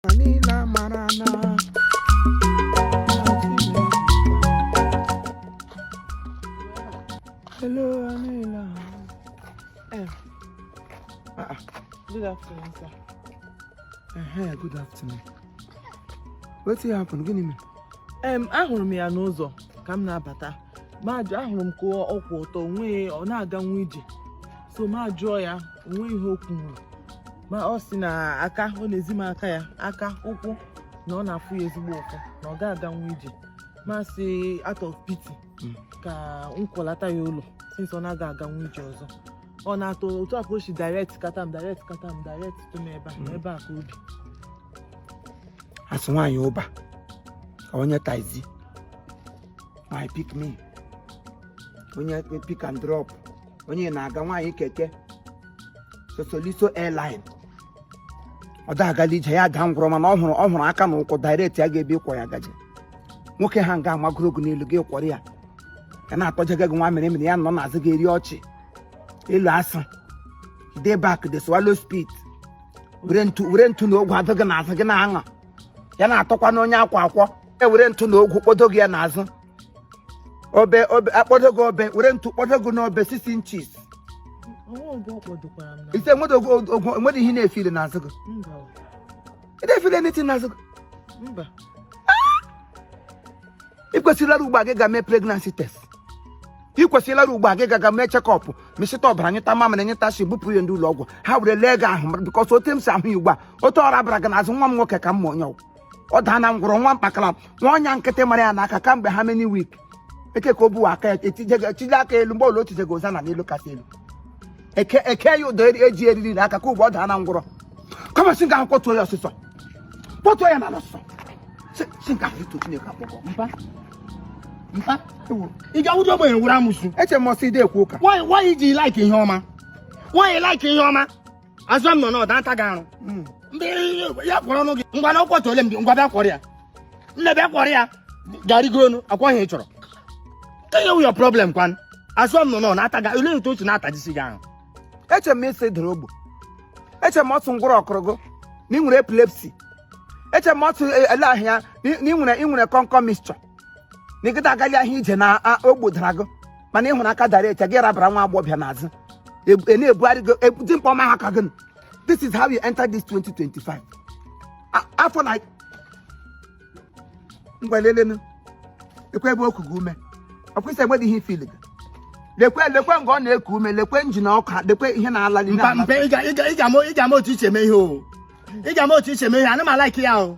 ma niile amara na Hello, Anila. Um, ah, ah, good afternoon, sir. Uh-huh, good afternoon. Wetin happen? Gịnị mere? Em, ahụrụ m ya n'ụzọ ka m na-abata ma ajụ ahụrụ m ka ọ kwụ ọtọ nwee ọ na-aganwu ije so mụ ajụọ ya o nwe ihe okwu nwere ma ọ sị na aka ọ na-ezi m aka ya aka ụkwụ na ọ na-afụ ya ezigbo ụfụ na ọ ga-aganwu ije mụ asị out of pity Mm. ka m kwọlata ya ụlọ since ọ na-aga aga nwa ije ọzọ ọ na-atọ otu a ka o si direct kata m direct kata m direct tụ m ebe a na ebe a ka o bi as nwaanyị Uber ka onye taxi my pick me onye pick and drop onye ịnaga nwaanyị keke Sosoliso airline ọ da-agali ije ya daa ngwụrọ mana ọ hụrụ ọ hụrụ aka na ụkwụ direct ya gaa ebe ị kwọ ya gaje nwoke ha nga a magoro gị n'elu gị akwọrọ ya ya na-atọjaga gị nwa mere mere ya nọ n'azụ gị eri ọchị elu as e dey back dey swallow spit were ntu were ntu na ogwu adụ gị n'azụ gị na-aṅa ya na-atọkwanụ onye a kwọ akwọ e were ntu na ogwu kpọdo gị ya n'azụ obe obe akpọdo gị obe were ntu kpọdo gị n'obe six inches ise nwere ogwo nwere ihe na-efile n'azụ gị ị na-efile n'iti n'azụ gị ị kwesịrị ịlara ugbo a gị gaa mee pregnancy test ị kwesịrị ịlara ugbo a gị gaga mee checkup mesịta ọbara nyeta mamịrị nyeta shi bupụ ya ndị ụlọ ọgwụ ha were lee gị ahụ because otu m si ahụ ya ugbu a otu ọra bara gị n'azụ nwa m nwoke ka m ma onye ọ wụ ọ daana ngwụrọ nwa mkpakala nwa ọnya nkịtị mara ya n'aka kamgbe how many week eke ka o buwa aka ya etije aka elu mgbe ole otije ga ụza na n'elu kasị elu eke eke ya ụdọ eji eriri na aka ka ugbo ọ daana ngwụrọ come on si nga ahụ kpọtuo ya ọsịsọ kpọtuo ya na ọsịsọ si nga ahụ eto Chineke akpọkọ mpa mpa ị ga-awụdị ogbenye wụrụ amusu eche m sị ị de ekwu ụka nwaanyị ji like ihe ọma nwaanyị like ihe ọma azụ m nọ ọ na-ata gị arụ hmm. ndị ya kwọrọ ọnụ gị ngwanụ akwọtuole m gị ngwa bịa kwọrọ ya nne bịa kwọrọ ya garịgonụ ọkwa ihe ị chọrọ kee ihe wụ your problem kwan azụ m nọ ọ na-ata gị ole otu otu na-atajisi gị arụ eche m sị ị dara ogbu eche m sị ngwụrọ kụrụ gị na ị nwere epilepsy eche m sị eh, ele ahịa na ị nwere kọnkọ mixture na ịgịta agali ahụ ije na ogbo dara gị mana ị hụrụ aka dara echi gị rabara nwa agbọghọbịa n'azụ e na-ebugharị gị ebute mkpọ ma ha ka gị this is how you enter this 2025 afọ na ngwa lelenụ lekwe ebe ọ kuga ume ọ kwụsị enwedị ihe ifili gị lekwe lekwe nga ọ na-eku ume lekwe njin ọka lekwe ihe na-alali mba mba ị ga-ama otu iche eme ihe o ị ga-ama otu iche eme ihe ana m alaiki ya o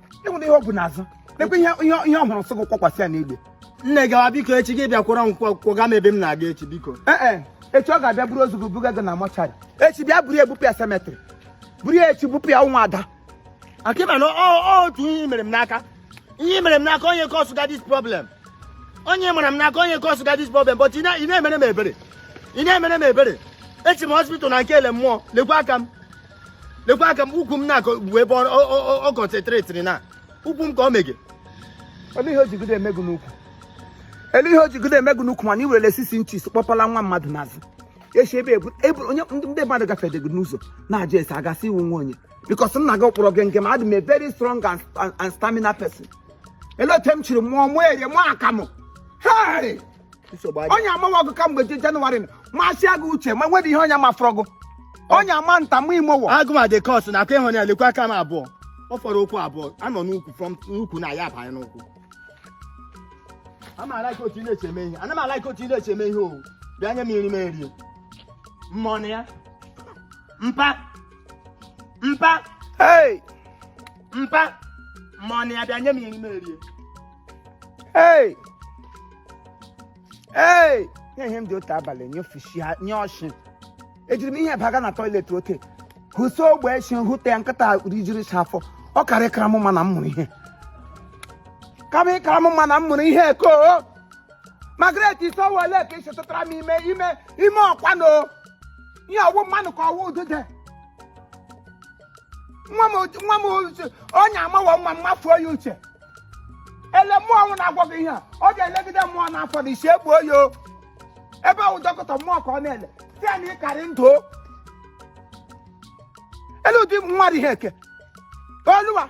enwere ihe ọ bụ n'azụ lekwa ihe ihe ọ hụrụ sị gị kwakwasị ya n'igbe nne gawa biko echi gị bịa kwọrọ m kwọga m ebe m na-aga echi biko ee eh, eh. echi ọ ga-abịa buru ozu gị buga gị na mortuary echi bịa buru ya bupụ ya cemetery buru ya echi bupụ ya nwa ada akịma na otu ihe mere m n'aka ihe mere m n'aka onye kọsụ ga this problem onye mara m n'aka onye kọsụ ga this problem but ị na-emere m ebere ị na-emere m ebere echi m hospital na nke ele mmụọ lekwa aka m lekwa aka m ukwu m na-akọ bụ ebe ọ concentrate na ukwu m ka ọ mege ele ihe o jigodo emegụ n'ukwu ele ihe o jigodo emegụ n'ukwu mana i werele six inches kpọpala nwa mmadụ n'azụ echi ebe ebu ebe onye ndị mmadụ gafedego n'ụzọ na-ajụ ese a ga-asị ị wụ nwa onye because nna gị kpọrọ gị nke ma adị m a very strong and, and, and stamina person ele otu m chiri mụọ mụọ eri mụọ akamụ hei nsogbu adị onye amawa ọgụ kamgbe je- jenụwarị na masịa gị uche ma nwere ihe onye mafọrọ gụ onye ama nta ma imo o agụ ma dị kọt na aka ị hụ ya lekwa aka m abụọ ọ fọrọ ụkwụ abụọ anọ n'ukwu from n'ukwu na ya abanye n'ụkwụ ana m alaika otu ị na-eche eme ihe ana m alaika otu ị na-eche eme ihe o bịa nye m nri m erie mmọnụ ya mpa mpa hey mpa mmọnụ ya bịa nye m nri m erie ee ee nye ihe m dị otu abalị nye ofishi ha nyụọ nshị ejiri m ihe baga na toilet ote hụso ogbe nshị hụta ya nkịta rijiri nshị afọ ọ kara ịkara m mma na m mụrụ ihe kama ịkara m mma na m mụrụ ihe ko Margaret isowole ka i shi tụtara m ime ime ime ọkwanụ ihe ọ wụ mmanụ ka ọ wụ udude nwa m otu- nwa m uche onye amawa nwa m mafuo ya uche ele mmụọ ọnwụ na-agwọ gị ihe a ọ ga-elegide mmụọ n'afọ na isi egbuo ya o. ebe ahụ dọkịta mmụọ ka ọ na-ele si ya na ị ka rị ndụ o. ele ụdị nwa dị ihe eke oluwa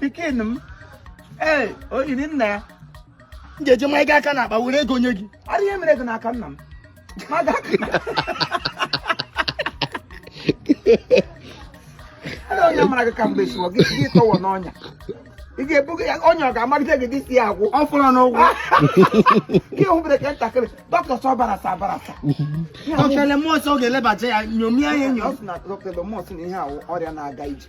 pikin m ee o yiri nna ya m ga-eji mma gị aka n'akpa were ego nye gị ara ihe mere gị n'aka nna m ma ga Ada onye mara gị ka mgbe siwọ gị gị tọwọ n'ọnya ị ga-ebuga ya ọnya ọ ga-amalite gị dị si ya agwụ ọ fọrọ n'ụgwọ gị hụbere ka ntakịrị dọkịta sọ barasa abarasa ọkele mmụọ nsọ ọ ga-elebacha ya nyomie ya enyo ọ sị na dọkịta mmụọ sị na ihe a wụ ọrịa na-aga ije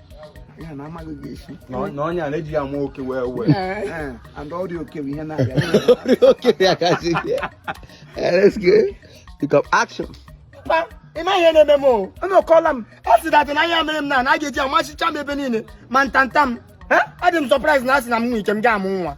ya na amaghị gị esi na onye a na-eji ya ma oke wee wee and ọrịa oke bụ ihe na-abịa ọrịa oke ya kasị bịa let's go pick up action ị ma ihe na-eme m o anọkọla m ọ sị that na ihe mere m na na a ga-eji amachicha m ebe niile ma ntanta m adị m surprise na asị na m nwee ike m ga-amụ nwa